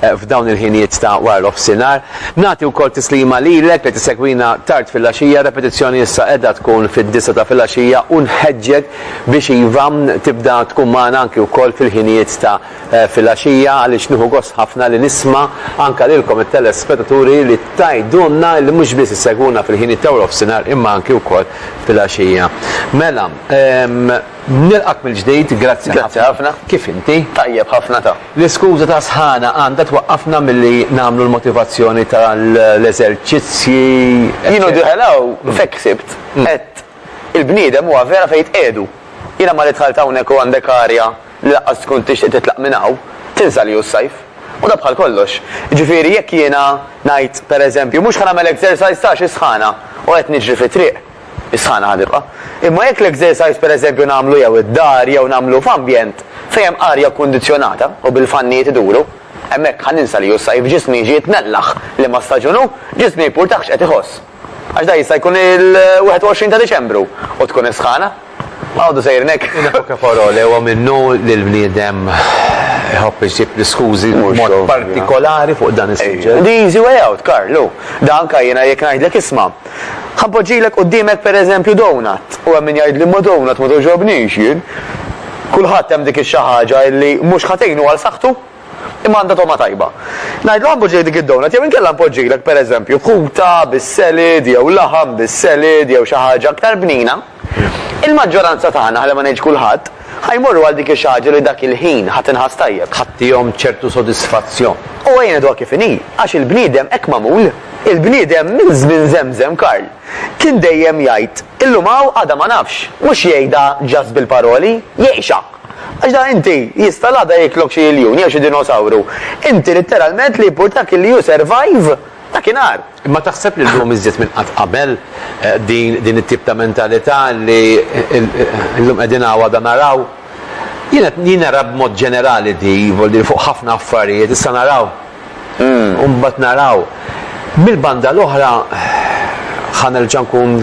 f'dawn il-ħiniet ta' wara l-offsinhar. Nagħti wkoll tislima lilek li tissegwina tard filgħaxija, r-repetizzjoni issa qiegħda tkun fid-disgħa ta' filgħaxija u nħeġġek biex iva tibda tkun magħna anki wkoll fil-ħinijiet ta' filgħaxija għaliex nieħu gost ħafna li nisma' anke lilkom it-telespetaturi li tgħidulna li mhux biss issegwuna fil-ħiniet ta' wara l-offsinhar imma anki wkoll filgħaxija. Mela, Nilqgħek mill-ġdid, grazzi ħafna. Grazzi ħafna. Kif inti? Tajjeb ħafna ta. L-iskuża ta' sħana għandha twaqqafna milli nagħmlu l-motivazzjoni tal-eżerċizzji. Jien u Dihelao f'hekk ħsibt. Għedt, il-bniedem huwa vera fejn jitqiegħdu. Jiena malli dħalt hawnhekk u għandek arja li laqqas tkun tixtieq titlaq minn hawn, tinsa li hu s-sajf. U dan bħal kollox. Jiġifieri jekk jiena ngħid, pereżempju, mhux ħa nagħmel exercise ta' xi sħana u qed niġri fit-triq, Is-sħana ħa tibqa'. Imma jekk l-exercise pereżempju nagħmlu jew id-dar jew nagħmlu f'ambjent fejn hemm arja kkundizzjonata u bil-fannijiet iduru, hemmhekk ħa ninsa li hu s-sajf, ġismi jiġi jitnellaħ liema staġun hu, ġismi jimpurtah x'qed iħoss. Għax dan jista' jkun il-21 ta' Diċembru u tkun is-sħana. Għodu sejrin hekk. In poche parole, huwa minnu li l-bniedem iħobb iġib l-iskużi b'mod partikolari fuq dan is-suġġett. The easy way out, Karlu. Da anka jiena jekk ngħidlek isma'. Ħanpoġġilek qudiemek pereżempju donut. U hemm min jgħidli ma' donut ma togħġobnix jien. Kulħadd hemm dik ix-xi ħaġa li mhux ħa tgħinu għal saħħtu, imma għandha togħma tajba. Ngħidlu ħanpoġġilek dik id-donut jew inkella npoġġilek pereżempju ħuta bis-selid jew laħam bis-selid jew xi ħaġa aktar bnina. Il-maġġoranza tagħna, ħalli ma ngħidx kulħadd, ħa jmorru għal dik ix-xi ħaġa li dak il-ħin ħa tinħass tajjeb. Ħa tihom ċertu sodisfazzjon. U ejja ngħiduha kif inhi, għax il-bniedem hekk magħmul. Il-bniedem minn żmien żemżem, Karl, kien dejjem jgħid, illum hawn għada ma nafx. Mhux jgħidha just bil-paroli, jgħixha. Għax da inti, jista' l-għada jiklok xi iljun jew xi dinosawru. Inti litteralment li jimpurtak li you survive dakinhar. Imma taħseb li llum iżjed minn qatt qabel din din it-tip ta' mentalità li llum qegħdin hawn għada naraw? Jien qed jien nara b'mod ġenerali di, vol dir fuq ħafna affarijiet, issa naraw u mbagħad naraw. Mill-banda l-oħra ħa nerġa' nkun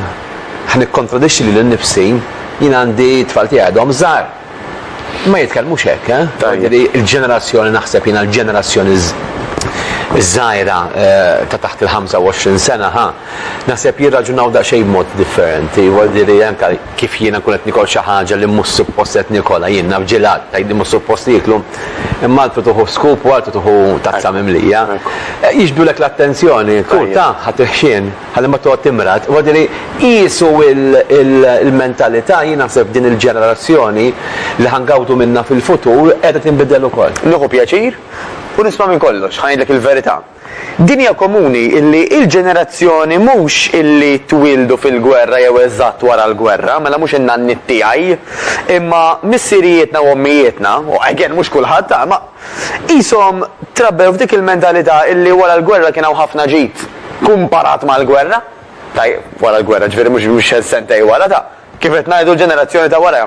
ħa nikkontradixxi lili nnifsi, jien għandi t-tfal tiegħi għadhom żgħar. Ma jitkellmux hekk, eh? Tajjeb. Il-ġenerazzjoni naħseb jiena l-ġenerazzjoni żgħira eh, ta' taħt il-25 sena, ha, naħseb jirraġunaw daqsxejn b'mod differenti, wadiri anke kif jiena kun qed nikol xi ħaġa li mhux suppost qed nikola jien naf ġilat tajdi mhux suppost jiklu, imma għaltu tuħu skup u għaltu tuħu tazza mimlija. Eh, Jiġbdulek l-attenzjoni, kull ta' ħadd il-ħxien. ħalli ma toqgħod timrad. Huwa jgħidili qiesu l-mentalità jien naħseb din il-ġenerazzjoni li ħa ngawdu minnha fil-futur qiegħda tinbidel ukoll. Nieħu pjaċir u nisma' minn kollox, ħa ngħidlek il-verità. Din hija komuni illi il-ġenerazzjoni mhux illi twieldu fil-gwerra jew eżatt wara l-gwerra, mela mhux in-nanniet tiegħi, imma missirijietna u ommijietna, u again mhux kulħadd, imma Qishom trabbew f'dik il-mentalità illi wara l-gwerra kien hawn ħafna ġid, kumparat mal-gwerra. Tajjeb, wara l-gwerra, ġifieri mhux sentejn wara, ta', kif qed ngħidu l-ġenerazzjoni ta' wara.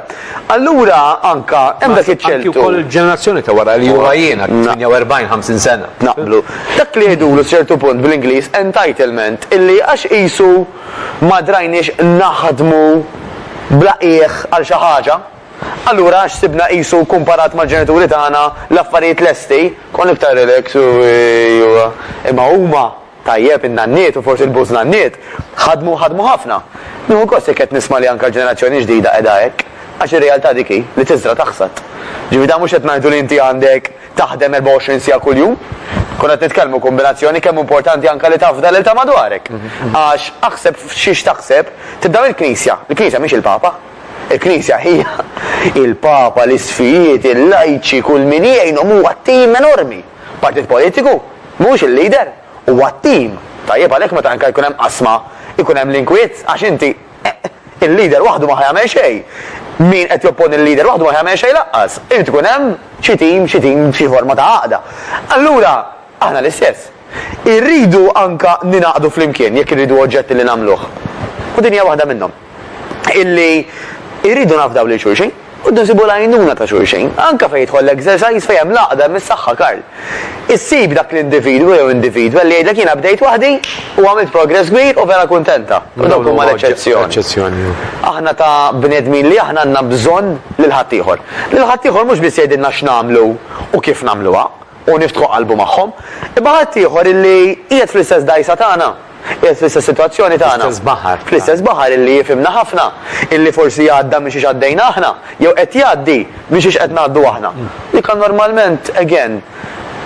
Allura anke hemm dak iċ-ċertu. Anke wkoll il-ġenerazzjoni ta' wara li huma jiena, 48, 50 sena. Naqblu. Dak li jgħidulu sċertu punt bl-Ingliż entitlement, illi għax qisu ma drajniex naħdmu bla qiegħ għal xi ħaġa, Allura għax sibna qisu kumparat mal-ġenituri tagħna l-affarijiet lesti, konna iktar relax u ejwa. Imma huma, tajjeb, in-nanniet u forsi l-bużnanniet, ħadmu u ħadmu ħafna. Nieħu gost jekk qed nisma' li anke l-ġenerazzjoni l-ġdida qiegħda hekk, għax ir-realtà dik hi, li tiżra' taħsad. Ġifieri dan mhux qed ngħidu li inti għandek taħdem 24 siegħa kuljum. Konna qed nitkellmu kumbinazzjoni kemm hu importanti anke li tafda lil ta' madwarek. Għax aħseb f'xiex taħseb tibda mill-Knisja. Il-Knisja mhix il-Papa. Il-Knisja hija, il-Papa, l-isqfijiet, il-lajċi, kull min jgħinhom huwa tim enormi. Partit politiku mhuwiex il-leader, huwa tim. Tajjeb għalhekk meta anke jkun hemm qasma jkun hemm l-inkwiet għax inti il-leader waħdu ma ħa jagħmel xejn. Min qed jopponi l-leader waħdu ma ħa jagħmel xejn lanqas. Irid ikun hemm xi tim, xi tim, xi forma ta' għaqda. Allura, Aħna l-istess. Irridu anke ningħaqdu flimkien jekk irridu oġġetti li nagħmluh. U din hija waħda minnhom. Illi irridu nafdaw lil xulxin u rridu nsibu l-għajnuna ta' xulxin. Anke fejn jidħol l-exercise fejn hemm l-għaqda hemm is-saħħa, Karl. Issib dak l-individwu jew individwa li jgħidlek jiena bdejt waħdi u għamilt progress kbir u vera kuntenta. U dawk huma l-eċċezzjoni. Aħna ta' bnedmin li aħna għandna bżonn lil ħaddieħor. Lil ħaddieħor mhux biss jgħidilna x'nagħmlu u kif nagħmluha. u niftħu qalbu magħhom, imma ħadd ieħor illi qiegħed fl-istess dgħajsa tagħna, qiegħed fl-istess sitwazzjoni tagħna, Fl-istess baħar. fl-istess baħar illi jifhimna ħafna, illi forsi għadda minn xiex għaddejna aħna, jew qed jgħaddi minn xiex qed ngħaddu aħna. Dik normalment, again,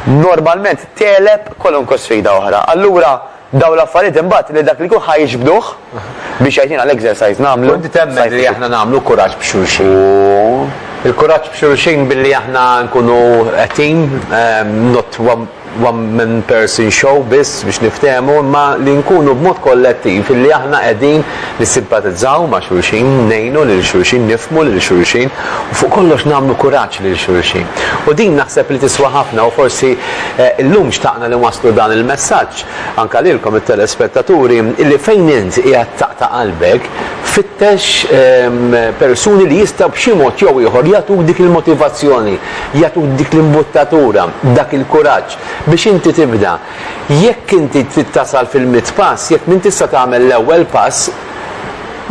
normalment tegħleb kwalunkwe sfida oħra. Allura, Dawn l-affarijiet imbagħad lil dak li jkun ħa jiġbduh biex jgħidilna l-exercise nagħmlu. U inti temmen li aħna nagħmlu kuraġġ b'xulxin? Il-kuraġġ b'xulxin billi aħna nkunu a team, not one man person show biss biex niftehmu, imma li nkunu b'mod kollettiv illi aħna qegħdin nissimpatizzaw ma' xulxin, ngħinu lil xulxin, nifhmu lil xulxin u fuq kollox nagħmlu kuraġġ lil xulxin. U din naħseb li tiswa ħafna u forsi llum xtaqna li nwasslu dan il-messaġġ anke lilkom it-telespettaturi li fejn int qiegħed taqta' qalbek fittex persuni li jistgħu b'xi mod jew ieħor jagħtuk dik il-motivazzjoni, jagħtuk dik l-imbuttatura, dak il-kuraġġ biex inti tibda. Jekk inti trid tasal fil-mitt pass, jekk m'intix se tagħmel l-ewwel pass,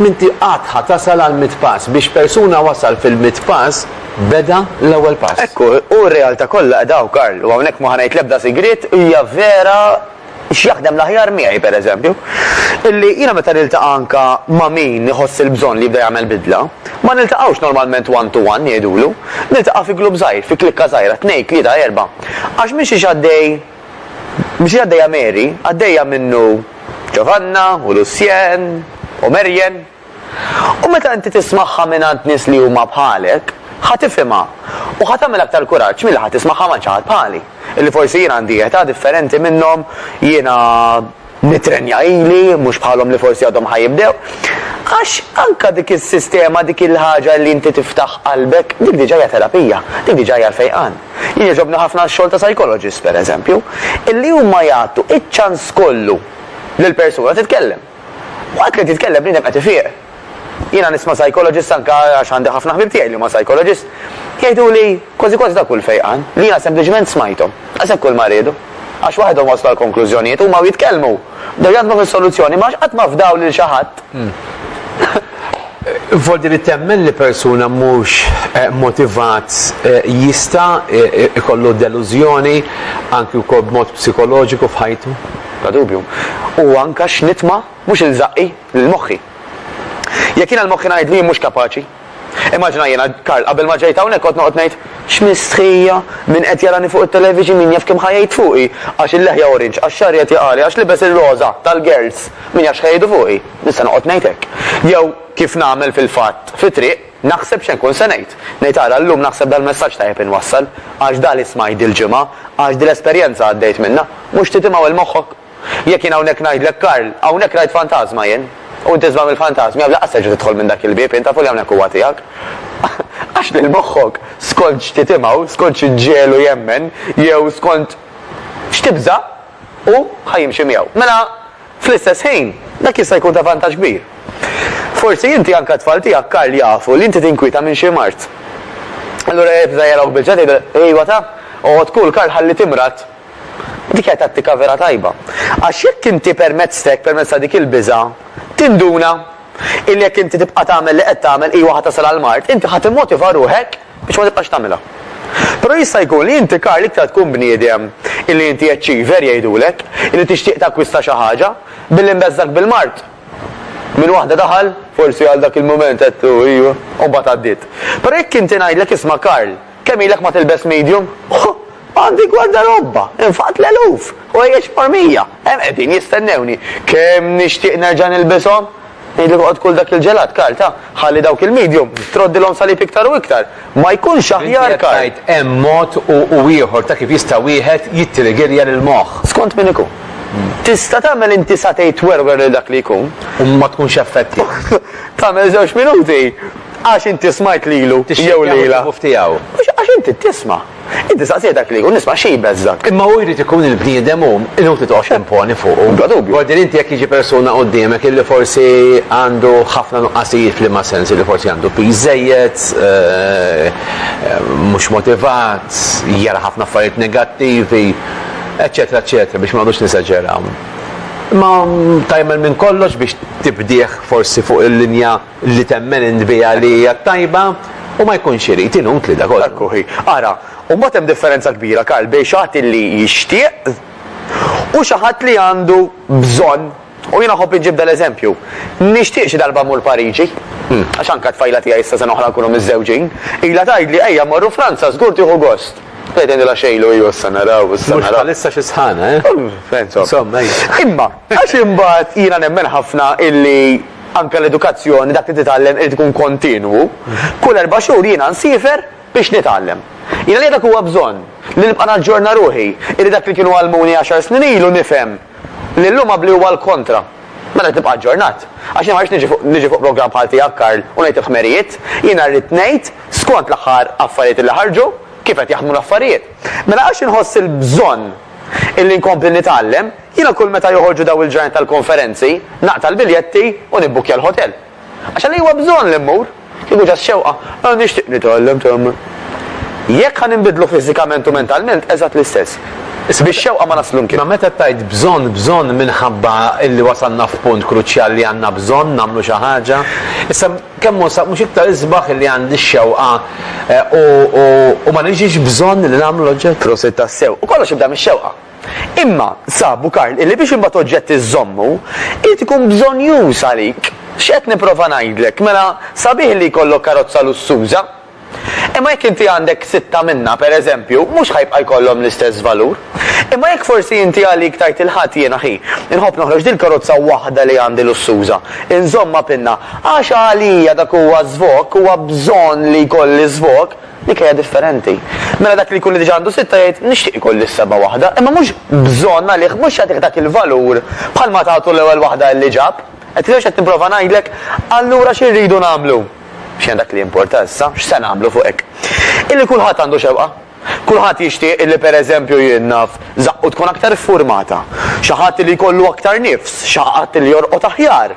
m'inti qatt ħa tasal għall-mitt pass. Biex persuna wasal fil-mitt pass, beda l-ewwel pass. Hekk hu, u r-realtà kollha qiegħda hawn, Karl, u hawnhekk ma ħa ngħid l-ebda sigriet, hija vera x'jaħdem l-aħjar miegħi, pereżempju, illi jiena meta niltaqa' anke ma' min iħoss il-bżonn li jibda jagħmel bidla, ma niltaqgħux normalment one to one, jgħidulu, niltaqa' fi glupp żgħir, fi klikka żgħira, tnejn, tlieta, erbgħa. Għax mixiex għaddej, mixiex għaddejja Mary, għaddejja minnu Ġovanna u Lucien u Marian. U meta inti tismagħha mingħand nies li huma bħalek, ħa tifhimha u ħa tagħmel aktar kuraġġ milli ħa tismagħha mgħand xi ħadd bħali, illi forsi jien għandi età differenti minnhom, jiena, Nitrenja ili, mhux bħalhom li forsi għadhom ħa jibdew. Għax anke dik is-sistema, dik il-ħaġa li inti tiftaħ qalbek, dik diġà hija terapija, dik diġà hija fejqan. Jien jogħġobni ħafna x-xogħol ta' psychologist, pereżempju, illi huma jagħtu iċ-ċans kollu lill-persuna titkellem. Waqt li qed jitkellem bniedem qed ifieq. Jiena nisma' psychologist anke għax għandi ħafna ħbieb tiegħi li huma psychologist, jgħiduli kważi kważi ta' kull fejqan, li jiena sempliċement smajthom. Daqshekk kull ma riedu. Għax waħedhom waslu għal konklużjonijiet, huma u jitkellmu, bdew jaħdmu fuq is-soluzzjoni, imma għax qatt ma fdaw lil xi ħadd. Voldi li temmen li persuna mhux motivat jista' jkollu delużjoni anke wkoll b'mod psikoloġiku f'ħajtu? Bla dubju. U anke x'nitma'. Mhux lil żaqqi, lil moħħi. Jekk jiena l-moħħi ngħidlu jien mhux kapaċi. Immaġina jiena, Karl, qabel ma ġejt hawnhekk kont noqgħod ngħid, X'mistħija! Min qed jarani fuq it-television min jaf kemm ħa jgħid fuqi! Għax il-leħja orange, għax xagħri qed jaqali, għax libes ir-roża, tal-girls! Min jaf x'ħa jgħidu fuqi! Nista' noqgħod ngħid hekk. Jew, kif nagħmel fil-fatt, fit-triq, naħseb x'se nkun se ngħid. Ngħid ara, llum naħseb dal-messaġġ tajjeb inwassal, għax da li smajt dil-ġimgħa, għax dil-esperjenza għaddejt minnha. Mhux titimaw 'il moħħok? Jekk jien hawnhekk ngħidlek Karl, hawnhekk rajt fantażma jien, u int isma' mill-fantażmi għax lanqas terġa' tidħol minn dak il-bieb int tafu li hawnhekk huwa tiegħek. Għax lil moħħok, skont x'titimgħu, skont x'ġiegħlu jemmen, jew skont x'tibża', hu ħa jimxi miegħu. Mela, fl-istess ħin, dak jista' jkun ta' vantaġġ kbir. Forsi inti anke t-tfal tiegħek Karl jafu li inti tinkwieta minn xi mard. Allura jibża' jarawk bil-ġdid jgħidilek, Ejwa taf, oqgħod cool Karl ħalli timrad, Dik hija tattika vera tajba. Għax jekk inti permezz t'hekk, permezz ta' dik il-biża', tinduna illi jekk inti tibqa' tagħmel li qed tagħmel iva ħa tasal għall-mard, inti ħa timmotiva ruħek biex ma tibqax tagħmilha. Però jista' jkun li inti Karl iktar tkun bniedem illi inti achiever jgħidulek, illi tixtieq takkwista xi ħaġa, billi mbeżżgħek bil-mard. Minn waħda daħal, forsi għal dak il-mument għedtlu iva, u mbagħad għaddiet. Però jekk inti ngħidlek isma' Karl, Kemm ilek ma tilbes medium? Huh! Għandi gwardarobba! Infaqt l-eluf! U ejja xmar mija! Hemm qegħdin jistennewni! Kemm nixtieq nerġa' nilbishom! Ngħidlek oqgħod kul dak il-ġelat, Karl, ta? Ħalli dawk il-medium, troddilhom salib iktar u iktar! Ma jkunx aħjar, Karl? Inti qed tgħid hemm mod u u ieħor ta' kif jista' wieħed jittriggerja lill-moħħ. Skont min ikun. Tista' tagħmel inti satej twerwer lil dak li jkun. U ma tkunx effettiv. Tagħmel żewġ minuti. Għax inti smajt lilu jew lilha. Mhux għax inti tisma'. Inti staqsih dak li jkun jisma' xi jbeżżgħek. Imma hu jrid ikun il-bniedem hu, inutli toqgħod timponi fuqu. Bla dubju. Bla dubju. Inti jekk jiġi persuna quddiemek illi forsi għandu ħafna nuqqasijiet f'liema sens, illi forsi għandu piż żejjed, mhux motivat, jara ħafna affarijiet negattivi, eċċetera eċċetera biex ma noqgħodux nesaġeraw. Imma tagħmel minn kollox biex tibdih forsi fuq il-linja. li temmen int biha li hija t-tajba, u ma jkunx irid, inutli da kollu. Hekk hu, hi. Ara, u mbagħad hemm differenza kbira, Karl, bejn xi ħadd li jixtieq u xi ħadd li għandu bżonn. U jiena nħobb inġib dal-eżempju. Nixtieq xi darba mmur Pariġi, għax anke t-tfajla tiegħi issa sena oħra nkunu miżżewġin, ilha tgħidli ejja mmorru Franza żgur tieħu gost. Qiegħed ngħidilha xejlu iju issa naraw, issa naraw. Mhux bħalissa xi sħana, eh? Insomma. Insomma, ejja. Imma għax imbagħad jiena nemmen ħafna illi, Anke l-edukazzjoni, dak li titgħallem irid ikun kontinwu. Kull erba' xhur jiena nsiefer biex nitgħallem. Jiena li dak huwa bżonn, li nibqa' naġġorna ruħi, illi dak li kienu għallmuni għaxar snin ilu nifhem li llum għabbli huwa l-kontra. Mela trid tibqa' aġġornat. Għax jiena ma rridx niġi fuq programm bħal tiegħek Karl u ngħid il-ħmerijiet, jiena rrid ngħid skont l-aħħar affarijiet illi ħarġu, kif qed jaħdmu l-affarijiet. Mela għax inħoss il-bżonn illi nkompli nitgħallem, Jiena kull meta joħorġu dawn il-ġranet tal-konferenzi, naqta' l-biljetti u nibbukkja l-ħotel. Għax għaliex huwa bżonn li mmur? Kieku ġast xewqa, ah nixtieq nitgħallem tgħammar. Jekk ħa ninbidlu fiżikament u mentalment, eżatt l-istess. Bix-xewqa ma naslu mkien. Imma meta tgħid bżonn, bżonn minħabba illi wasalna f'punt kruċjali li għandna bżonn nagħmlu xi ħaġa. Issa kemm hu sa mhux iktar isbaħ illi għandi x-xewqa u ma niġix bżonn li nagħmlu l-oġġett? Prosit tassew. U kollox jibda mix-xewqa. Imma, sabu Karl, illi biex imbagħad oġġett iżżommu, irid ikun bżonnjuż għalik. X'qed nipprova ngħidlek? Mela, sabiħ li jkollok karozza lussuża. Imma jekk inti għandek sitta minnha, per eżempju, mhux ħa jibqa' jkollhom l-istess valur. Imma jekk forsi inti għalik tgħid il-Ħadd jiena ħi, inħobb noħroġ dil-karozza waħda li għandi lussuża, inżommha pinna, għax għalija dak huwa żvokk, huwa bżonn li jkolli żvokk, Dik hija differenti. Mela dak li jkun li diġà għandu sitta jgħid nixtieq ikolli s-seba' waħda, imma mhux bżonn għalih mhux jagħtih dak il-valur bħal ma tagħtu l-ewwel waħda li ġab. Qed tifhem x'qed nipprova ngħidlek? Allura xi rridu nagħmlu? X'inhi dak li jimporta issa? X'se nagħmlu fuq hekk? Illi kulħadd għandu xewqa. Kulħadd jixtieq illi pereżempju jien naf żaqqu tkun aktar iffurmata, xi ħadd li jkollu aktar nifs, xi ħadd li jorqod aħjar.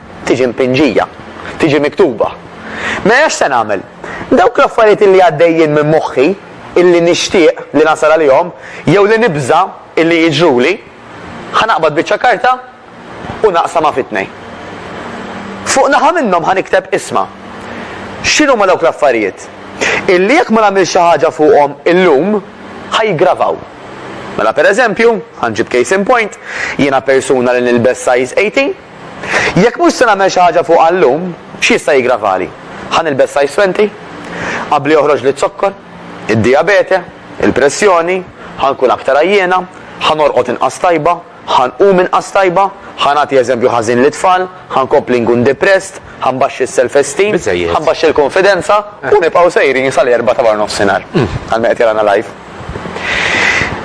Tiġi mpinġija. Tiġi miktuba. Mela x'se nagħmel? Dawk l-affarijiet illi għaddejjin minn moħħi, illi nixtieq li nasal għalihom, jew li nibża' illi jiġruli, ħa naqbad biċċa karta u naqsamha fi tnejn. Fuq naħa minnhom ħa nikteb ismha. X'inhuma dawk l-affarijiet? Illi jekk ma nagħmilx xi ħaġa fuqhom illum, ħa jiggravaw. Mela pereżempju, ħa nġib case in point, jiena persuna li nilbes size 18, Jekk mhux se nagħmel xi ħaġa fuqha llum, x'jista' jiggravali? Ħa nilbes size twenty? Qabli joħroġli z-zokkor? Id-dijabete? Il-pressjoni? Ħa nkun aktar għajjiena? Ħa norqod inqas tajba? Ħa nqum inqas tajba? Ħa nagħti eżempju ħażin lit-tfal? Ħa nkompli nkun depressed? Ħa nbaxxi s-self-esteem? Biżżejjed. Ħa nbaxxi l-kunfidenza? U nibqgħu sejrin sal-erbgħa ta' warnofsinhar għal min qed jarana live.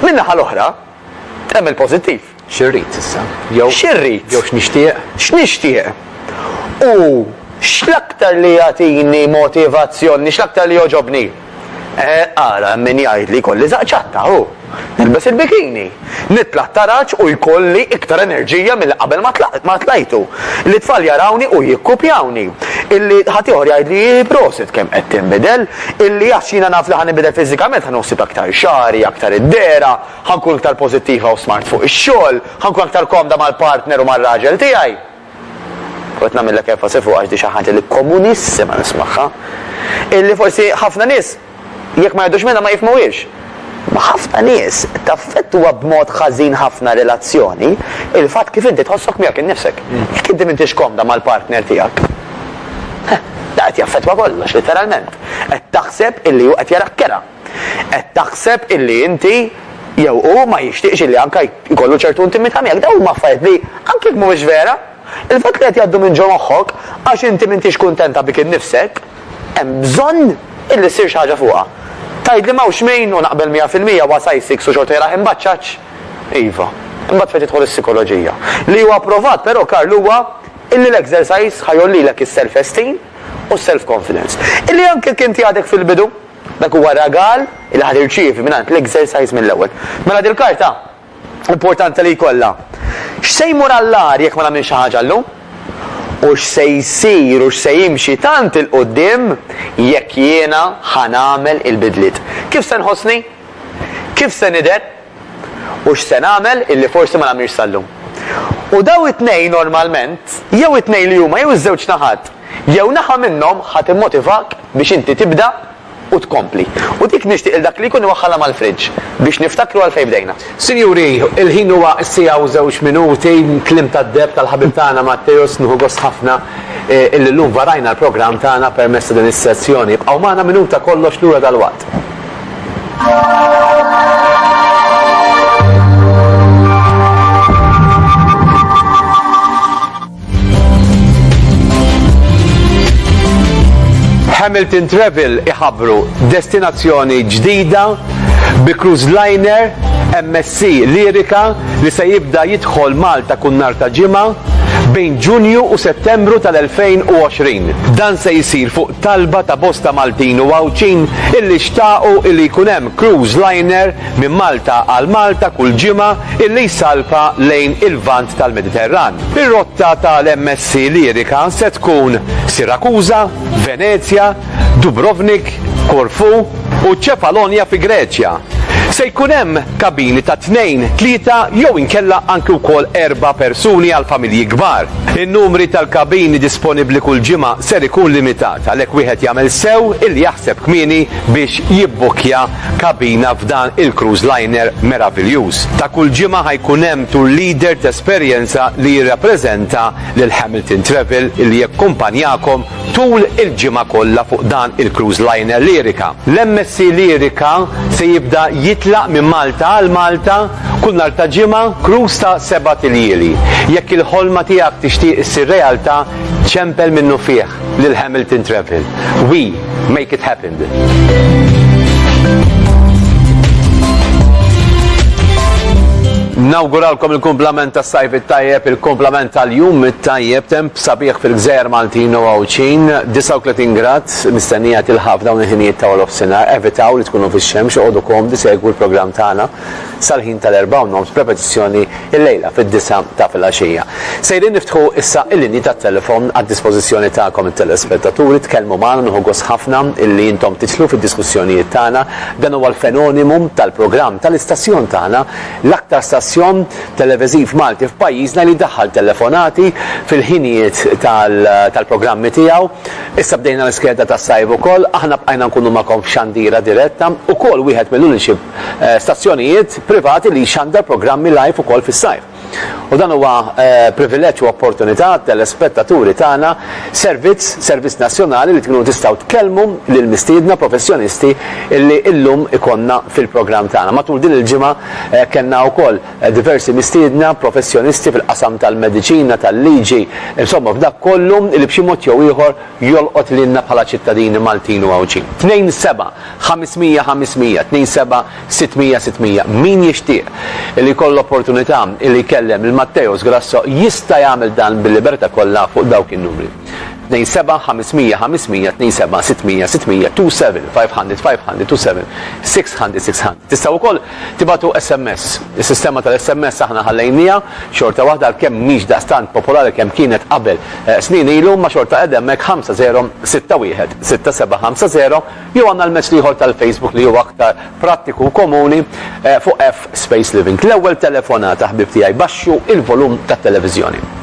Min-naħa l-oħra, hemm il-pożittiv. Xi rrid issa? Jew. Xi rrid? Jew x'nixtieq? X'nixtieq? U x'l-aktar li jagħtini motivazzjoni, x'l-aktar li jogħġobni? Eh, ara, hemm min jgħid li jkolli żaqq ċatta, hu. Nilbes il-bikini. Nitla' t-taraġ u jkolli iktar enerġija milli qabel ma tlajtu. Li t-tfal jarawni u jikkupjawni. Illi ħaddieħor jgħidli prosit kemm qed tinbidel. Illi għax jiena naf li ħa ninbidel fiżikament ħa noħsib aktar xagħri, aktar id-dehra. Ħa nkun iktar pożittiva u smart fuq ix-xogħol, ħa nkun aktar komda mal-partner u mar-raġel tiegħi. U qed nagħmillek enfasi fuqha għax di xi ħaġa li komunissima nismagħha. Illi forsi ħafna nies jekk ma jgħidux minnha ma jifhmuhiex. Ma' ħafna nies taffettwa b'mod ħażin ħafna relazzjoni il-fatt kif inti tħossok miegħek innifsek. Jekk inti m'intix komda mal-partner tiegħek, da qed jaffettwa kollox, literalment. Qed taħseb illi hu qed jarak kera. Qed taħseb illi inti jew hu ma jixtieqx illi anke jkollu ċertu intimità miegħek. Dawn huma affarijiet li, anke jekk mhumiex vera, il-fatt li qed jgħaddu minn ġo moħħok għax inti m'intix kuntenta bik innifsek, hemm bżonn illi ssir xi ħaġa fuqha. Tgħidli m'hawnx min, u naqbel mija fil-mija, huwa size six u xorta jaraħ imbaċċaċ? Iva. Imbagħad fejn tidħol is-sikoloġija. Li huwa pprovat però, Karl, huwa illi l-exercise ħa jgħollilek is-self-esteem u s-self-confidence. Illi anke jekk inti għadek fil-bidu, Dak huwa ragal li ħa tirċievi mingħand l-Exercise mill-ewwel. Mela dil-karta importanti li jkollha. X'se jmur għall-agħar jekk ma nagħmilx xi ħaġa llum? U x'se jsir u x'se jimxi tant 'il quddiem jekk jiena ħa nagħmel il-bidliet? Kif se nħossni? Kif se nidher? u x'se nagħmel illi forsi ma nagħmilx sal-lum. U dawn it-tnejn normalment, jew it-tnejn li huma jew iż-żewġ naħat, jew naħa minnhom ħa timmotivak biex inti tibda u tkompli. U dik nixtieq lil dak li jkun iwaħħalha mal-fridge biex niftakru għalfejn bdejna. Sinjuri, il-ħin huwa s-siegħa u żewġ minuti, kliem tad-deheb tal-ħabib tagħna Matteus, nieħu gost ħafna illi llum varajna l-programm tagħna permezz ta' din is-sezzjoni. Ibqgħu magħna minuta kollox lura dalwaqt. Hamilton Travel iħabbru destinazzjoni ġdida bi cruise liner MSC Sea Lyrica li se jibda jidħol Malta kull nhar ta' Ġimgħa bejn Ġunju u Settembru tal-2020. Dan se jsir fuq talba ta' bosta Maltin u Għawdxin illi xtaqu illi jkun hemm cruise liner minn Malta għal Malta kull ġimgħa illi jsalpa lejn il-Lvant tal-Mediterran. Ir-rotta tal-MS Sea Lyrica se tkun Sirakuża, Venezja, Dubrovnik, Korfu u Ċefalonja fi Greċja. Se jkun hemm kabini ta' tnejn, tlieta jew inkella anki wkoll erba' persuni għal familji kbar. In-numri tal-kabini disponibbli kull ġimgħa ser ikun limitat, għalhekk wieħed jagħmel sew illi jaħseb kmieni biex jibbukkja kabina f'dan il-cruise liner meraviljuż. Ta' kull ġimgħa ħa jkun hemm tour leader t'esperjenza li jirrappreżenta lil Hamilton Travel illi jakkumpanjakom Tul il-ġimgħa kollha fuq dan il-cruise liner Lyrica, l-MSC Lyrica se jibda jitlaq minn Malta għal Malta kull nhar ta' ġimgħa, cruise ta' sebat iljieli. Jekk il-ħolma tiegħek tixtieq issir realtà, ċempel minnufih lil Hamilton Travel. We make it happened. Nawguralkom il-kumplament tas-sajf it-tajjeb, il-kumplament tal-jum it-tajjeb, temp Sabiħ fil-Gżejjer Maltin u Għawdxin, 39 grad mistennija tilħaq f'dawn il-ħinijiet ta' warofsinhar. Evitaw li tkunu fix-xemx, oqogħdu komdi segwu l-programm tagħna sal-ħin tal-erbgħa u nofs b'repetizzjoni l-lejla fid-disgħa ta' filgħaxija. Sejrin niftħu issa l-linji tat-telefon għad-dispożizzjoni tagħkom it-telespettaturi, tkellmu magħna nieħu gost ħafna illi intom tidħlu fid-diskussjonijiet tagħna. Dan huwa l-fenonimu tal-programm tal-istazzjon tagħna, l-aktar stazzjon televiżiv Malti f'pajjiżna li jdaħħal telefonati fil-ħinijiet tal-programmi tiegħu. Issa bdejna l-iskeda tas-sajf ukoll, aħna bqajna nkunu magħkom f'xandira diretta, ukoll wieħed mill-uniċi stazzjonijiet privati li jxandar programmi live ukoll fis-sajf. U dan huwa privileġġ u opportunità għat-telespettaturi tagħna, servizz, servizz nazzjonali li tkunu tistgħu tkellmu lill-mistiedna professjonisti li llum ikollna fil-programm tagħna. Matul din il-ġimgħa Kellna wkoll diversi mistiedna, professjonisti fil-qasam tal-mediċina, tal-liġi, insomma f'dak kollu li b'xi mod jew ieħor jolqot lilna bħala ċittadini Maltin u Għawdxin. Tnejn seba', ħames mija ħames mija, tnejn seba' sitt mija sitt mija. Min jixtieq li jkollu l-opportunità li jkellem lil Matteos Grasso jista' jagħmel dan bil-libertà kollha fuq dawk in-numri. Tnejn seba' ħamismija ħamismija tnejn seba' sittmija sittmija two seven five hundred five hundred two seven six hundred six hundred. Tistgħu wkoll tibgħatu SMS. Is-sistema tal-SMS aħna ħallejniha xorta waħda għalkemm mhix daqstant popolari kemm kienet qabel snin ilu imma xorta qiegħda hemmhekk ħamsa żero sitta wieħed sitta seba' ħamsa żero jew għandna l-mezz l-ieħor tal-Facebook li huwa aktar prattiku u komuni fuq F Space Living. L-ewwel telefonata ħbieb tiegħi baxxu il-volum tat-televiżjoni.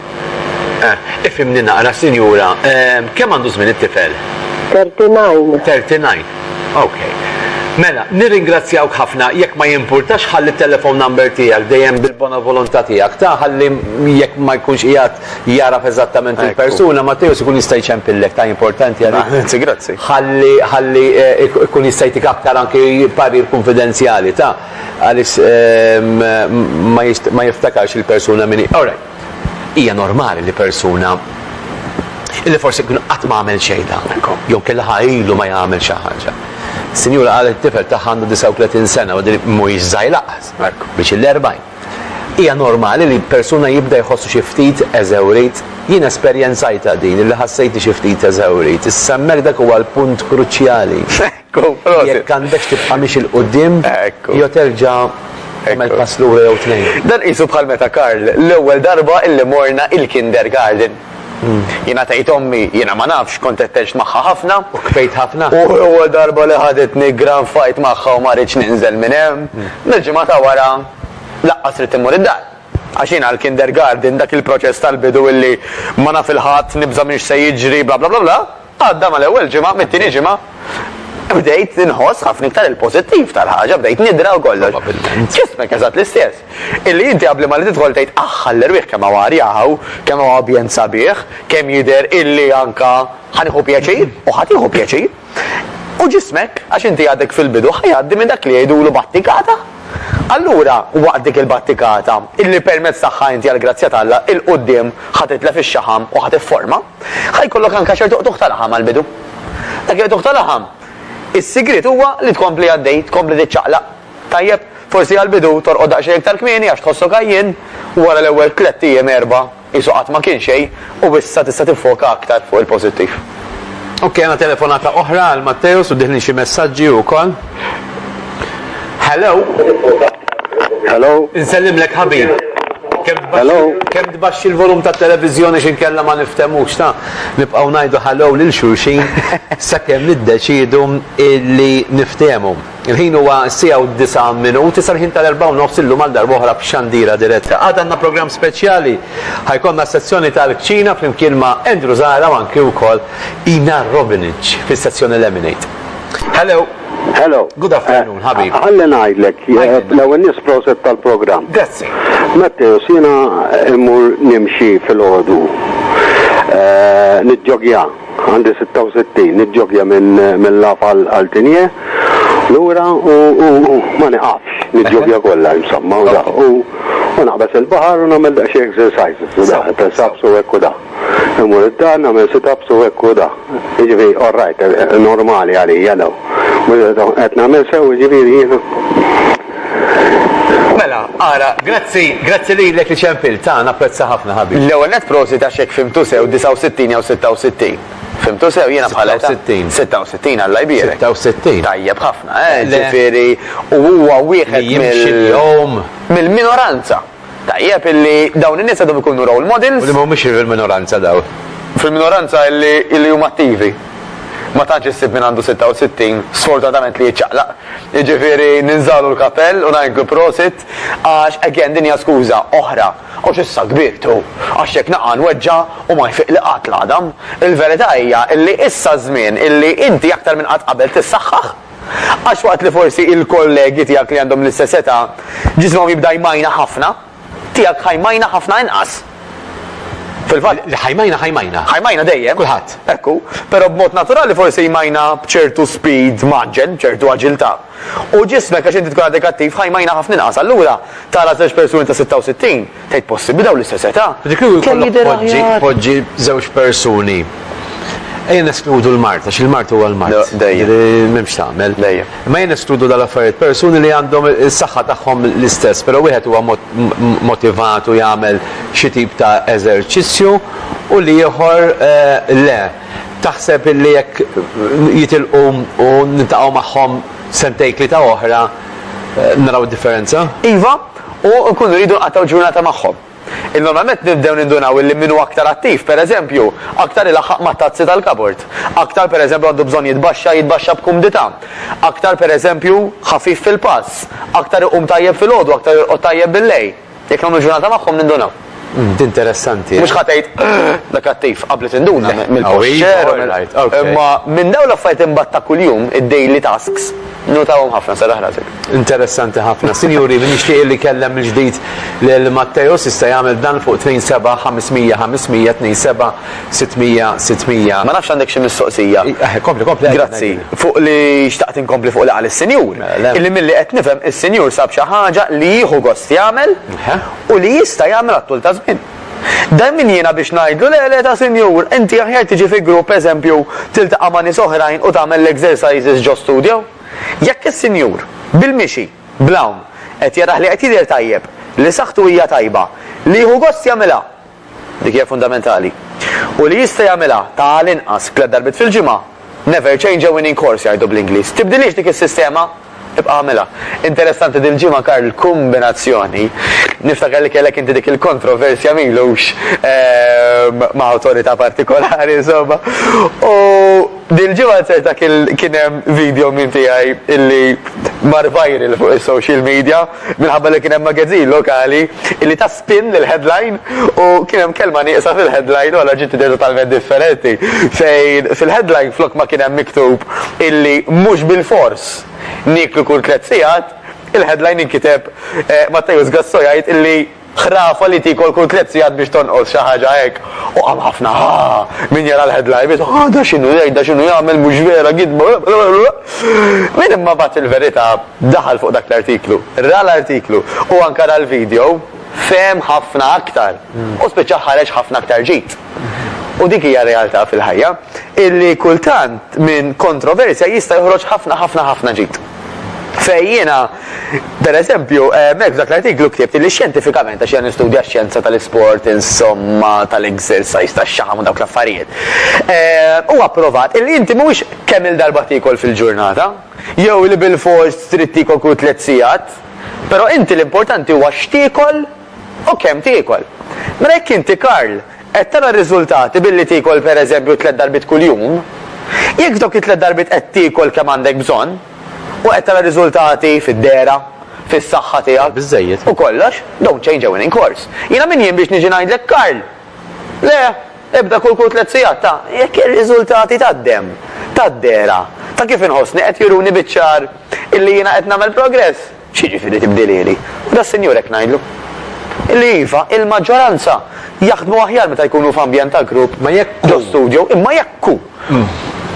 Eh, ifhimni naqra, sinjura, ehm, kemm għandu żmien it-tifel? 39. 39. Okay. Mela, nirringrazzjawk ħafna jekk ma jimpurtax ħalli telefon number tiegħek dejjem bil-bona volontà tiegħek ta' ħalli jekk ma jkunx qiegħed jaraf eżattament il-persuna ma tejus ikun jista' jċempillek ta' importanti għal. Grazzi, grazzi. Ħalli ħalli eh, ikun jista' jtik aktar anki parir konfidenzjali ta' għaliex eh, ma jiftakarx il-persuna minni. All right. Hija normali li persuna illi forsi kien qatt ma għamel xejn ta' jew kellha ħajlu ma jagħmel xi ħaġa. Sinjura qalet it-tifel tagħha għandu 39 sena u din mhuwiex żgħir laqas, biex il-40. Hija normali li persuna jibda jħossu xi ftit eżewrit. Jien esperjenzajtha din illi ħassejtni xi ftit eżewrit. Issa hemmhekk dak huwa l-punt kruċjali. Jekk għandekx tibqa' miexi 'l quddiem jew terġa' tagħmel pass lura jew tnejn. Dan qisu bħal meta Karl l-ewwel darba illi morna il-kindergarten. Jiena tgħid ommi, jiena ma nafx, kont qed tgħix magħha ħafna. U kfejt ħafna? U l-ewwel darba li ħaditni gran fight magħha u ma ridtx ninżel minn hemm. Mill-ġimgħa ta' wara laqqas ridt immur id-dar. Għax jiena għall-kindergarten dak il-proċess tal-bidu illi ma naf 'il ħadd, nibża' minn x'se jiġri bla bla bla bla, Għadda mal-ewwel ġimgħa, mit-tieni ġimgħa bdejt inħoss ħafna iktar il-pożittiv tal-ħaġa, bdejt nidra u kollox. Probabbilment. Ġismek eżatt l-istess. Illi inti qabli ma li tidħol tgħid aħħa l-erwieħ kemm hawn arjaħu, kemm hawn ambjent sabiħ, kemm jidher illi anka ħanieħu pjaċir u ħadd jieħu pjaċir. U ġismek, għax inti għadek fil-bidu, ħajgħaddi minn dak li jgħidulu battikata. Allura, waqt dik il-battikata, illi permezz tagħha inti għall-grazzja t'Alla 'l quddiem ħa titlef ix-xaħam u ħa tifforma, ħa jkollok anke ċertu qtugħ ta' laħam għall-bidu. Dak il-qtugħ ta' laħam, is-sigriet huwa li tkompli għaddej, tkompli tiċċaqlaq. Tajjeb, forsi għall-bidu torqod daqsxejn iktar kmieni għax tħossok għajjien, wara l-ewwel tlett ijiem, erbgħa, Qisu qatt ma kien xejn u issa tista' tiffoka aktar fuq il-pożittiv. Ok, għandna telefonata oħra għal Matteus u dieħlin xi messaġġi wkoll. Hello. Hello. Insellimlek ħabib. Hello. Kemm tbaxxi l-volum tat-televiżjoni x'inkella ma nifthemux, ta? Nibqgħu ngħidu hello lil xulxin sakemm niddeċiedu li niftehmu. Il-ħin huwa s-siegħa u d-disgħa minuti sal-ħin tal-erbgħa u nofs illum għal darb'oħra b'xandira diretta. Għada għandna programm speċjali. Ħajkollna s-sezzjoni tal-kċina flimkien ma' Andrew Zahra u anki wkoll Ina Robinic fis-sezzjoni Lemonade. Hello. Hello. Good afternoon, eh, ħabib. Għalli ngħidlek, eh, l-ewwel nies proset tal-programm. Grazzi. Matteo, sina immur nimxi fil-ħodu. Eh, Nidġogja. Għandi 66, niġġogja minn min Laf għal għal Tinje, lura u u u ma niqafx, niġġogja kollha insomma u da. U u naqbeż il-baħar u nagħmel daqsxejn exercises u da, press ups u hekk u da. Immur id-dar nagħmel sit ups u hekk u da. Jiġifieri all right, normali għalija dawn. Qed nagħmel sew jiġifieri jiena? Mela, ara, grazzi, grazzi lilek li ċempilt, ha, napprezza ħafna, ħabib. L-ewwel nett prosit għax jekk fhimtu sew 69 jew 66. Fhimtu sew, jiena bħal età. 66. 66, Alla jbierek. 66. Tajjeb ħafna, eh, ġifieri, u huwa wieħed mill. Li jimxi l-jom. Mill-minoranza. Tajjeb illi dawn in-nies għadhom ikunu role models. U li mhumiex fil-minoranza dawn. Fil-minoranza illi illi huma attivi. Ma tantx issib min għandu 66, sfortunatament li jiċċaqlaq. Jiġifieri ninżagħlu l-kapell u ngħidlu prosit għax again din hija skuża oħra. Għax issa kbirt u għax jekk naqa' nweġġa' u ma jfiqli qatt l-għadam. Il-verità hija illi issa ż-żmien illi inti aktar minn qatt qabel tissaħħaħ. Għax waqt li forsi il-kollegi tiegħek li għandhom l-istess età ġisimhom jibda jmajna ħafna, tiegħek ħajmajna ħafna inqas. Fil-fatt. Li ħajmajna ħajmajna. Ħajmajna dejjem. Kulħadd. Ekku, però b'mod naturali forsi jmajna b'ċertu speed maġġel, b'ċertu aġilità. U ġismek għax inti tkun għadek attiv ħajmajna ħafna inqas. Allura tara żewġ persuni ta' 66 Tgħid possibbli dawn l-istess età? Ġifieri kieku jkollok poġġi poġġi żewġ persuni. Ejja neskludu l-mard, għax il-mard huwa l-mard. Le, dejjem. Ġifieri m'hemmx tagħmel. Dejjem. Imma ejja neskludu dawn l-affarijiet, persuni li għandhom is-saħħa tagħhom l-istess, però wieħed huwa mo- m- m- motivat u jagħmel xi tip ta' eżerċizzju u l-ieħor eh, le. Taħseb illi jekk jitilqu u niltaqgħu magħhom sentejn tlieta oħra eh, naraw differenza? Iva, u nkunu rridu nqattgħu ġurnata magħhom. Normalment nibdew nindunaw illi min hu aktar attiv, pereżempju, aktar ilaħħaq mat-tazzi tal-kabord, aktar pereżempju għandu bżonn jitbaxxa jitbaxxa b'kumdità, aktar pereżempju ħafif fil-pass, aktar iqum tajjeb filgħodu, aktar jorqod tajjeb billejl. Jekk nagħmlu ġurnata magħhom nindunaw. Umm, di interessanti. Mhux ħa tgħid, Da kattiv, qabli tinduna mill-posture u mill. Imma minn dawn l-affarijiet imbagħad ta' kuljum, id-daily tasks, nnotahom ħafna, serraħ rasek. Interessanti ħafna. Sinjuri, min jixtieq illi jkellem mill-ġdid lil Matteus jista' jagħmel dan fuq 27 500 500 27 600 600. Ma nafx għandek xi mistoqsija. Kompli, kompli. Grazzi. Fuq li xtaqt inkompli fuq li qal is-Sinjur. Illi milli qed nifhem is-Sinjur sab xi ħaġa li jieħu gost jagħmel. u li jista' jagħmel għat-tul ta' żmien. Dan min jiena biex ngħidlu le le ta' sinjur, inti aħjar tiġi fi grupp eżempju tiltaqa' ma' nies oħrajn u tagħmel l-exercises ġo studio? Jekk is-sinjur, bil-mixi, bl-hawn, qed jarah li qed jidher tajjeb, li saħħtu hija tajba, li jieħu gost jagħmilha, Dik hija fundamentali. U li jista' jagħmilha ta' għal inqas tliet darbiet fil-ġimgħa, never change a winning course jgħidu bl-Ingliż. Tibdilhiex dik is-sistema, ibqa' agħmilha. Interessanti dil-ġimgħa Karl il-kumbinazzjoni, niftakar li kellek inti dik il-kontroversja m'ilux ma' awtorità partikolari insomma, u, Dil-ġimgħa ċerta kien hemm video minn tiegħi illi mar viral fuq is-social media minħabba li kien hemm magazine lokali illi ta spin lill-headline u kien hemm kelma nieqsa fil-headline u allura ġiet idea totalment differenti fejn fil-headline flok ma kien hemm miktub illi mhux bilfors nieklu kull tliet sigħat, il-headline inkiteb Matteus Gasso jgħid illi Ħrafa li tik għal kull tliet sigħat biex tonqos, xi ħaġa hekk. U qam ħafna, ha! Min jara l-headline jgħid, ha da x'inhu jgħid, da x'inhu jagħmel, mhux vera, gidba, blablabla. Min imma bagħat il-verità, daħal fuq dak l-artiklu, ra l-artiklu u anke ra l-video, fehem ħafna aktar u spiċċa ħareġ ħafna aktar ġid. U dik hija realtà fil-ħajja illi kultant minn kontroversja jista' joħroġ ħafna ħafna ħafna ġid. Fejn jiena, per eżempju, hemmhekk f'dak l-artiklu ktibt li xjentifikament, għax jiena nistudja x-xjenza tal-isport, insomma, tal-exercise, tax-xaħam u dawk l-affarijiet, huwa pprovat illi inti mhuwiex kemm-il darba tiekol fil-ġurnata, jew li bilfors trid tiekol kull tliet sigħat, però inti l-importanti huwa x'tiekol, U kemm tiekol? Mela jekk inti Karl qed tara r-riżultati billi tiekol pereżempju tliet darbiet kuljum, jekk f'dawk it-tliet darbiet qed tiekol kemm għandek bżonn u qed tara riżultati fid-dehra, fis-saħħa tiegħek u kollox, don't change a winning course. Jiena min jien biex niġi ngħidlek Karl! Le, ibda kul kull tliet sigħat ta' jekk ir-riżultati tad-demm, tad-dehra, ta' kif inħossni qed juruni biċ-ċar illi jiena qed nagħmel progress. X'jiġifieri tibdilieli? U das-Sinjur hekk ngħidlu. Illi iva, il-maġġoranza jaħdmu aħjar meta jkunu f'ambjent ta' grupp ġo studjo, imma jekk hu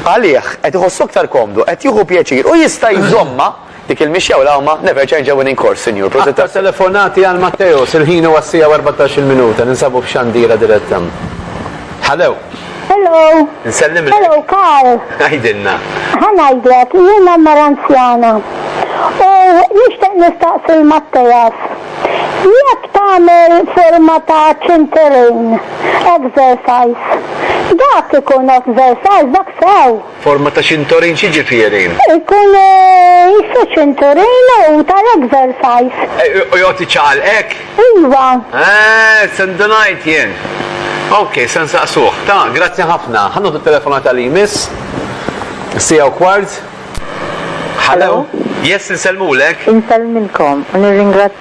għalih qed iħossu aktar komdu, qed jieħu pjaċir u jista' jżommha dik il-mixja u l-għawma, never change a winning course, Sinjur, prosit tassew. Aktar telefonati għal Matteus, il-ħin huwa s-siegħa u erbatax-il minuta, ninsabu f'Xandira diretta. Hallo. Hello. Nsellimlek. Hello, Karl. Għajdilna. Ħanajdlek, jiena mara anzjana. U nixtieq nistaqsi l-Mattejas. Jekk tagħmel forma ta' ċinterejn exercise, dak ikun exercise dak sew. Forma ta' ċintorin x'jiġifieri? Ikun jissu ċinturin u tal-exercise. U jgħodd iċaqal hekk? Iva. Eeh, se ndunajt jien. Ok, se nsaqsuh. Ta, grazzi ħafna. Ħa nieħdu t-telefonata li jmiss. Siegħa u kwart. Hello? Yes, insellmulek. Insellmilkom u nirringrazzjakom.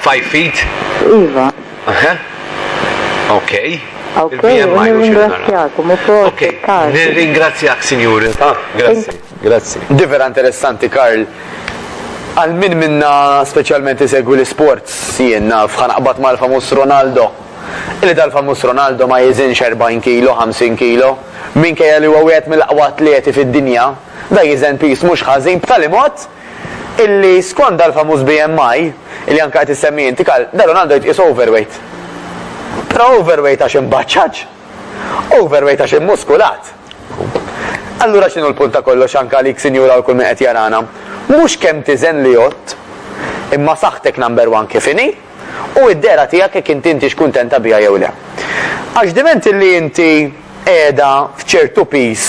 Five feet? Iva. Aha. Okay. Okay, nirringrazzjakom u proset Karl. Nirringrazzjak Sinjuri. Ah, grazzi. Grazzi. Di vera interessanti Karl. Għal min minna speċjalment isegwi l-sports jien naf ħanaqbad mal-famus Ronaldo. Illi dal-famus Ronaldo ma jiżinx 40 kilo, 50 kilo. Minkejja li huwa wieħed mill-aqwa atleti fid-dinja, da jiżen pis mhux ħażin b'tali mod illi skond dal-famuż BMI, illi anke qed issemmi inti Karl, da Ronaldo jitqies overweight. Però overweight għax imbaċċaġ? Overweight għax immuskulat? Allura x'inhu l-punt ta' kollox anke għalik sinjura u kull min qed jarana? Mhux kemm tiżen li għodt, imma saħħtek number one kif inhi u d-dehra tiegħek jekk inti intix kuntenta biha jew le. Għax diment illi inti qiegħda f'ċertu piż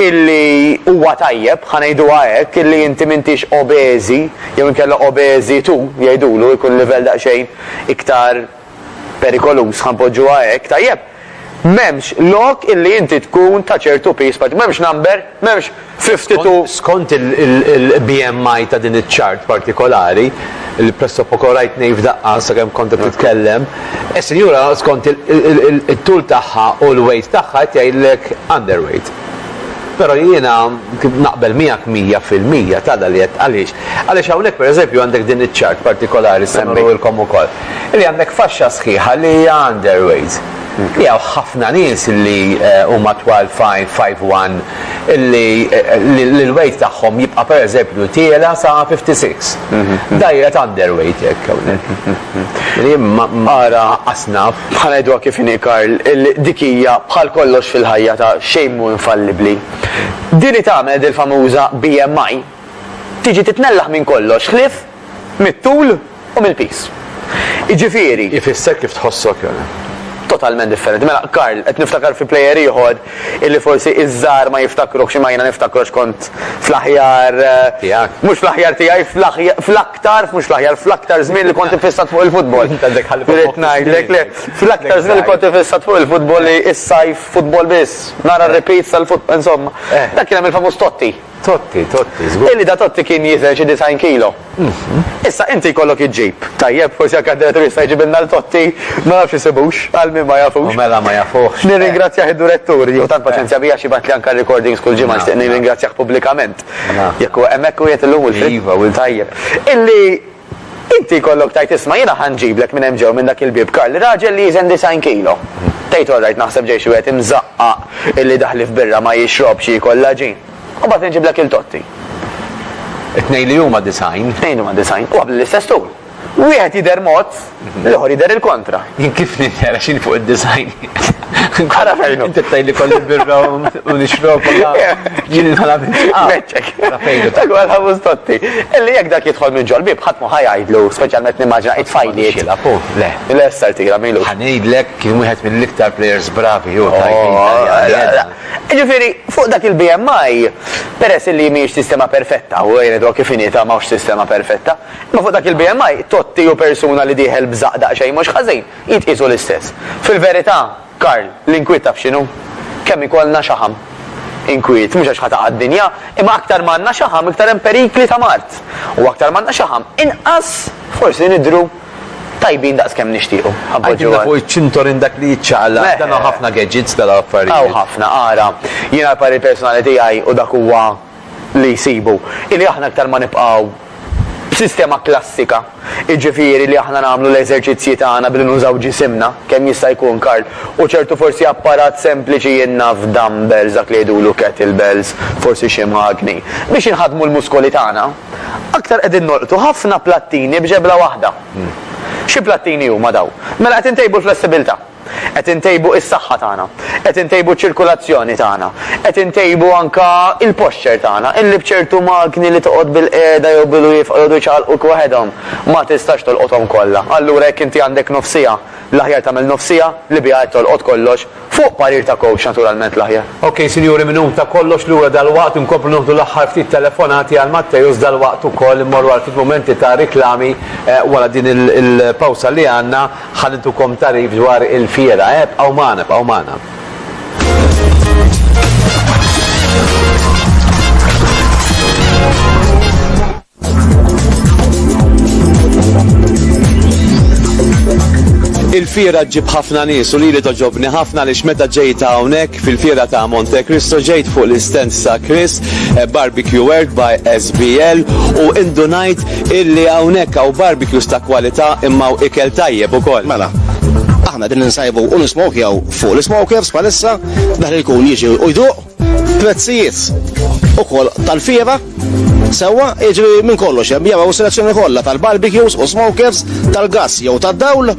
illi huwa tajjeb, ħa ngħiduha hekk, illi inti m'intix obeżi jew inkella obeżitu jgħidulu, ikun livell daqsxejn iktar perikoluż, ħa npoġġuha hekk, tajjeb? M'hemmx lok illi inti tkun ta' ċertu piż, m'hemmx number, m'hemmx Fi ftit u. Skont il-BMI ta' din iċ-chart partikolari, li pressopoko rajt ngħi f'daqqa sakemm kont qed titkellem, is-sinjura skont it-tul tagħha u l-weight tagħha qed jgħidlek underweight. Però jiena naqbel miegħek mija fil-mija t'għala li qed għaliex? Għaliex hawnhekk pereżempju għandek din iċ-chart partikolari li se nuriwilkom ukoll, li għandek faxxa sħiħa li hija underweight. Li hawn ħafna nies li huma twal five, five one, li l-weight tagħhom jibqa' pereżempju tiela' sa 56. Dgħajra ta' underweight hekk hawnhekk. Li ara asnaf. Bħal ngħiduha kif inhi Karl, dik hija bħal kollox fil-ħajja ta' xejn mhu infallibbli. Din hi tagħmel dil-famuża BMI tiġi titnellaħ minn kollox ħlief mit-tul. u mill-piż. Jiġifieri. Ifisser kif tħossok jew. Totalment differenti. Mela, Karl, qed niftakar fi plejer ieħor illi forsi iż-żgħar ma jiftakruhx imma jiena niftakru għax kont fl-aħjar. Tiegħek. Mhux fl-aħjar tiegħi, fl-aktar, mhux fl-aħjar, fl-aktar żmien li kont ifissat fuq il-futbol. Irrid ngħidlek le, fl-aktar żmien li kont ifissat fuq il-futbol li s-sajf futbol biss, nara r-repeats tal-futbol, insomma. Eh. Dak kien hemm il-famuż Totti. Totti, Totti, żgur. Illi da Totti kien jiżen xi disgħin kilo. Issa inti jkollok iġġib. Tajjeb, forsi anke d-direttur jista' jġibilna lil Totti, ma nafx isibux, għal min ma jafux. U mela ma jafuhx. Nirringrazzjah id-durettur, jieħu tant paċenzja bija x'jibgħatli anke r-recordings kull ġimgħa nixtieq nirringrazzjah pubblikament. Jekk huwa hemmhekk qiegħed illum Wilfried? Iva, Wilfried. Tajjeb. Illi Inti jkollok tgħid isma' jiena ħa nġiblek minn hemm ġew minn dak il-bieb Karl raġel li jiżen disgħin kilo. Tgħid orrajt naħseb ġej xi wieħed imżaqqaq illi daħli f'birra ma jixrobx jiekol l-għaġin. U mbagħad inġiblek il Totti. It-tnejn li huma disgħin. It-tnejn huma disgħin. U għabli l-istess tul. Wieħed jidher mod. L-ieħor jidher il-kontra. Jien kif nidher għax fuq id-design. Ara fejn. Inti tgħid li kolli birra u nixrob jien inħala Meċċek. Dak huwa l-ħamus totti. Illi jekk dak jidħol minn ġol bib ħadd ma ħajajdlu, speċjalment nimmaġina qid fajli. Le. Le sar tira mejlu. Ħanejdlek kien wieħed mill-iktar players bravi u oh, Ġifieri, fuq dak il-BMI, peress li mhijiex sistema perfetta, u għajnet kif inita mawx sistema perfetta, Imma fuq dak il-BMI, Totti hu persuna li dieħel b'żaqq daqsxejn mhux ħażin. Jitqiesu l-istess. Fil-verità, Karl, l-inkwiet taf x'inhu? Kemm ikollna xaħam. Inkwiet, mhux għax ħa taqa' d-dinja, imma aktar ma għandna xaħam iktar hemm perikli ta' mard. U aktar ma għandna xaħam, inqas forsi nidhru tajbin daqs kemm nixtiequ. Għidilna fuq iċ-ċintorin dak li jiċċaqlaq. Dan hawn ħafna gadgets dal-affarijiet. Hawn ħafna, ara. Jiena l-parir personali tiegħi u dak huwa. li jsibu hi li aħna iktar ma nibqgħu b'sistema klassika, jiġifieri li aħna nagħmlu l-eżerċizzji tagħna billi nużaw ġisimna kemm jista' jkun, Karl, u ċertu forsi apparat sempliċi jien naf dumbbells dak li jgħidulu kettlebells, forsi xi magni, biex inħaddmu l-muskoli tagħna, aktar qegħdin nolqtu ħafna plattini b'ġebla waħda. Xi plattini huma dawn? Mela qed intejbu l-flessibilità. Qed intejbu is-saħħa tagħna. Qed intejbu ċ-ċirkulazzjoni tagħna. Qed intejbu anke l-posture tagħna, illi b'ċertu magni li toqgħod bilqiegħda jew bilwieqfa jqogħdu jċaqalquk waħedhom, ma tistax tolqothom kollha. Allura jekk inti għandek nofsiegħa, l-aħjar tagħmel nofsiegħa li biha qed tolqot kollox, fuq parir ta' coach naturalment l-aħjar. Ok sinjuri minn hu ta' kollox lura dalwaqt inkomplu nieħdu l-aħħar ftit telefonati għal Matteus dalwaqt ukoll immorru għal ftit mumenti ta' riklami wara din il-pawsa li għandna. Ħa nitukom tagħrif dwar il-fiera, ebqgħu magħna, ebqgħu magħna. Il-fiera ġib ħafna nies u lili toġobni ħafna li meta ġejt hawnhekk fil-fiera ta' Monte Cristo ġejt fuq l-istens ta' Chris eh, Barbecue World by SBL u indunajt Illi hawnhekk hawn barbecues ta' kwalità imma hawn ikel tajjeb ukoll. Mela, aħna din insajbu u nismokjaw fuq l-smokers palissa, dak li jkun jiġi u jduq, prezzijiet ukoll tal-fiera, Sewa, iġri minn kollox, hemm jaraw selezzjoni kollha tal-barbecues u smokers, tal-gass jew tad-dawl,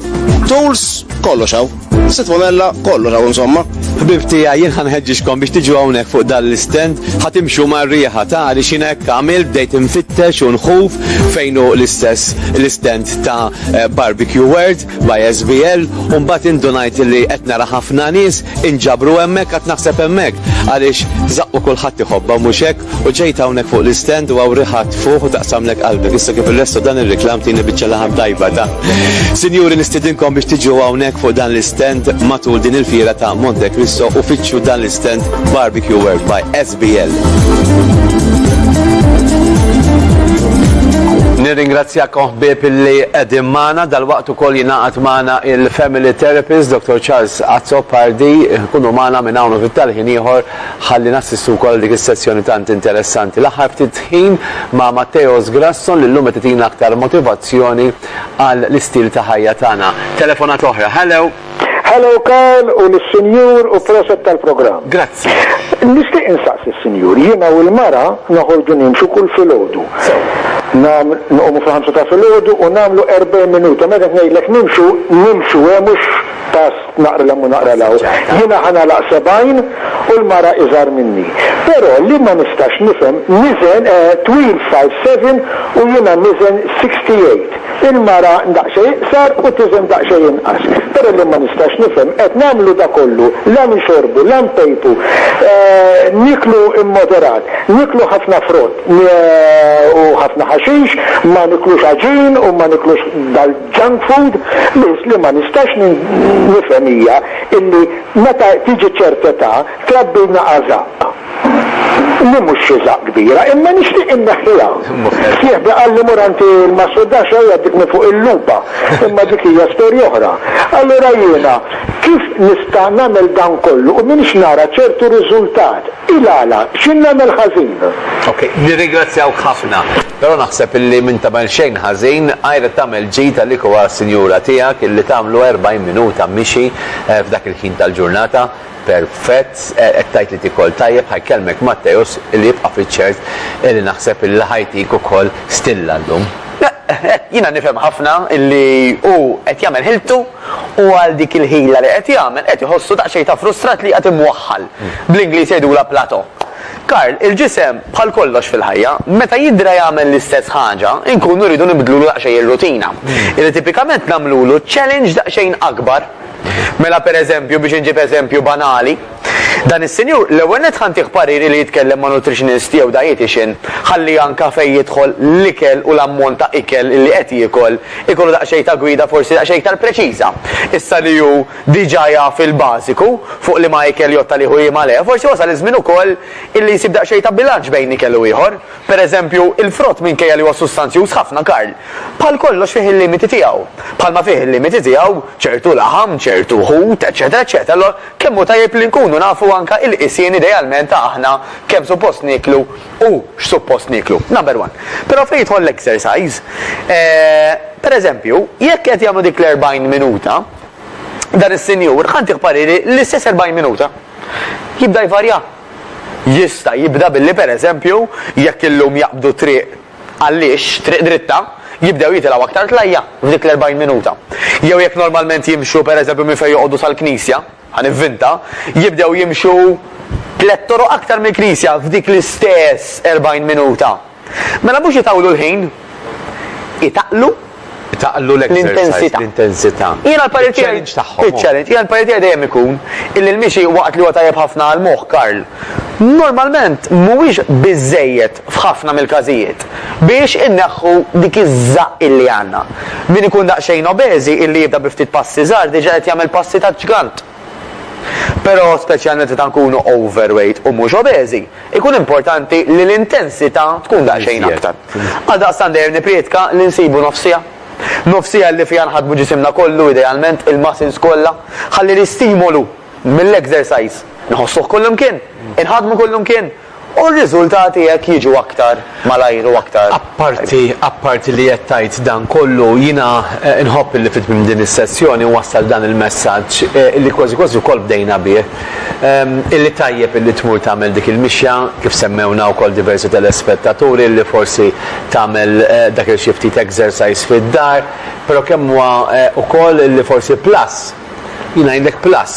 tools, kollox hawn. Sit Monella, kollu raw insomma. Ħbib tija, jien ħanħeġġixkom biex tiġu hawnhekk fuq dan l-istend, ħatimxu mar-riħa ta' li xina hekk għamil bdejt infittex u nħuf fejnu l-istess l-istend ta' eh, Barbecue World by SBL u mbagħad indunajt li qed nara ħafna nies inġabru hemmhekk qed naħseb hemmhekk għaliex zaqqu kulħadd iħobba mhux hekk U ġejt hawnhekk fuq l-istend u hawn riħa tfuħ u taqsamlek qalbek. Issa kif irrestu dan ir-riklam tini biċċa laħam tajba ta'. Sinjuri nistidinkom biex tiġu hawnhekk fuq dan l-istend matul din il-fiera ta' Monte Cristo u fittxu dan l-istend Barbecue World by SBL. Nirringrazzjakom ħbieb illi qegħdin magħna dal-waqt ukoll jingħaqad magħna il-Family Therapist Dr. Charles Azzopardi, kunu magħna minn hawn u fit-talħin ieħor Ħalli nassistu wkoll għal dik is-sessjoni tant interessanti l-aħħar ftit ħin ma' Matteos Grasson li llum qed itina aktar motivazzjoni għal l-istil ta' ħajja tagħna. Telefonata oħra. Hello! Hello Karl u l-Sinjur u proset tal-programm. Grazzi. Nixtieq insaqs il sinjur jiena u l-mara noħorġu nimxu kull filgħodu. Nam nqumu fil-ħamsa ta' filgħodu u nagħmlu 40 minuta meta ngħidlek nimxu nimxu hemm eh, mhux pass Naqra 'l hemm u naqra 'l hawn. Jiena ħa nagħlaq sebgħin u l-mara iżgħar minni. Però li ma nistax nifhem, niżen twil five seven u jiena niżen sixty eight. Il-mara daqsxejn iqsar u tiżen daqsxejn inqas. Però li ma nistax nifhem, qed nagħmlu da kollu, la nixorbu, la npejpu, nieklu immoderat, nieklu ħafna frott u ħafna ħaxix, ma niklux għaġin u ma niklux Junk food? Biss li ma nistax nifhem hija illi meta tiġi ċert età trabbilna għażaqq. Li mhux xi żaqq kbira, imma nixtieq inneħħiha. Sieħbi qalli mur għand il-massurdaccia u jgħaddik minn fuq il-lupa, imma dik hija storja oħra. Allura jiena kif nista' nagħmel dan kollu u m'iniex nara ċertu riżultat? Il-għala? X'in nagħmel ħażin? Ok, nirringrazzjawk ħafna. Però naħseb illi m'int tagħmel xejn ħażin, għajr qed tagħmel ġid għalik u għas-sinjura tiegħek illi tagħmlu erbgħin minuta mixi f'dak il-ħin tal-ġurnata. Perfett, qed tgħid li tikol tajjeb, ħa jkellmek Matteus illi jibqa' fiċ-ċert illi naħseb illi ħa jtik ukoll stilla llum. Jiena nifhem ħafna illi hu qed jagħmel ħiltu. u għal dik il-ħila li qed jagħmel qed iħossu daqsxejn ta' frustrat li qiegħed imwaħħal. Bl-Ingliż jgħidulha plateau. Karl, il-ġisem, bħal kollox fil-ħajja, meta jidra jagħmel l-istess ħaġa, inkunu rridu nibdlulu daqsxejn ir-rutina. Illi tipikament nagħmlulu challenge daqsxejn akbar. Mela pereżempju, biex inġib eżempju banali, Dan is-sinjur, l-ewwel nett ħa ntih pariri li jitkellem ma' nutritionist jew dietician ħalli anka fejn jidħol l-ikel u l-ammont ta' ikel li qed jiekol ikollu daqsxejn ta' gwida forsi daqsxejn iktar preċiża. Issa li hu diġa jaf il-bażiku fuq liema ikel jgħodd għalih u liema le, forsi wasal iż-żmien ukoll illi jsib daqsxejn ta' bilanċ bejn ikel u ieħor. Per eżempju, il-frott minkejja li huwa sustanzjuż ħafna Karl, bħal kollox fih il-limiti tiegħu. Bħalma fih il-limiti tiegħu ċertu laħam, ċertu ħut, eċċetera eċċetera. Kemm hu tajjeb li nkunu nafu anke il-qisien idealment ta' aħna kemm suppost nieklu u x'suppost nieklu. Number one. Però fejn jidħol l-exercise, per eżempju, jekk qed jagħmlu dik l-erbgħin minuta, dan is-sinjur ħa ntieh pariri l-istess erbgħin minuta. Jibda jvarja? Jista' jibda billi per eżempju, jekk illum jaqbdu t-triq Għaliex, triq dritta, jibdew jitilgħu aktar tlajja' f'dik l-erbgħin minuta? Jew jekk normalment jimxu, per eżempju, minn fejn joqogħdu sal-knisja, ħa nivvinta, jibdew jimxu tlett toroq aktar mill-knisja f'dik l-istess erbgħin minuta? Mela mhux itawlu l-ħin, itaqlu. Taqlu l-intensità. L-intensità. Jiena l-parir tiegħi. Iċ-challenge tagħhom. Iċ-challenge. Jiena l-parir tiegħi dejjem ikun illi l-mixi waqt li huwa tajjeb ħafna għall-moħħ, Karl, normalment mhuwiex biżżejjed f'ħafna mill-każijiet biex inneħħu dik iż-żaqq illi għandna. Min ikun daqsxejn obeżi illi jibda bi ftit passi żgħar diġà qed jagħmel passi ta' ġgant. Però, speċjalment meta nkunu overweight u mhux obeżi, ikun importanti li l-intensità tkun daqsxejn aktar. Għaldaqstant dejjem nipprietka li nsibu nofs siegħa. Nofs siegħa li fiha nħaddmu ġisimna kollu, idealment, il-muscles kollha, ħalli l-istimolu mill-exercise nħossuh kullimkien, inħaddmu kullimkien, U r-riżultati hekk jiġu aktar malajr u aktar. Apparti, apparti li qed tgħid dan kollu, jiena nħobb illi fi tmiem din is-sessjoni nwassal dan il-messaġġ, illi kważi kważi wkoll bdejna bih, illi tajjeb illi tmur tagħmel dik il-mixja, kif semmewna wkoll diversi telespettaturi, illi forsi tagħmel dak il-xi ftit exercise fid-dar, però kemm huwa wkoll illi forsi plus, Jien ngħidlek plus,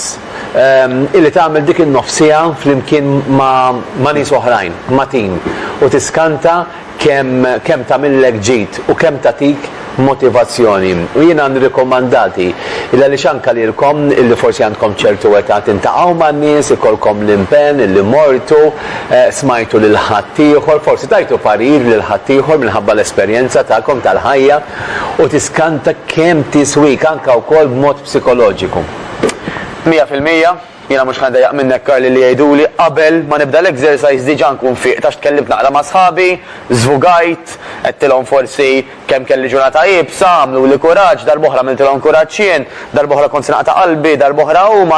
illi tagħmel dik in-nofs siegħa flimkien ma' nies oħrajn, ma' tim, u tiskanta kemm tagħmillek ġid u kemm tagħtik motivazzjoni. U jiena nirrikomandati, illi għaliex anke lilkom illi forsi għandkom ċertu età tintalqgħu man-nies, ikollkom l-impenn illi mortu, smajtu lil ħaddieħor, forsi tajtu parir lil ħaddieħor minħabba l-esperjenza tagħkom tal-ħajja, u tiskanta kemm tiswik anke wkoll b'mod psikoloġiku. Mija fil-mija, jiena mhux ħa ndejjaq minnek Karli li jgħiduli qabel ma nibda l-exercise diġa nkun fiqt għax tkellimt naqra ma' sħabi, żvugajt, għedtilhom forsi kemm kelli ġurnata iebsa, għamluli kuraġġ, darb'oħra għamiltilhom kuraġġ jien, darb'oħra kont se naqta' qalbi, darb'oħra huma,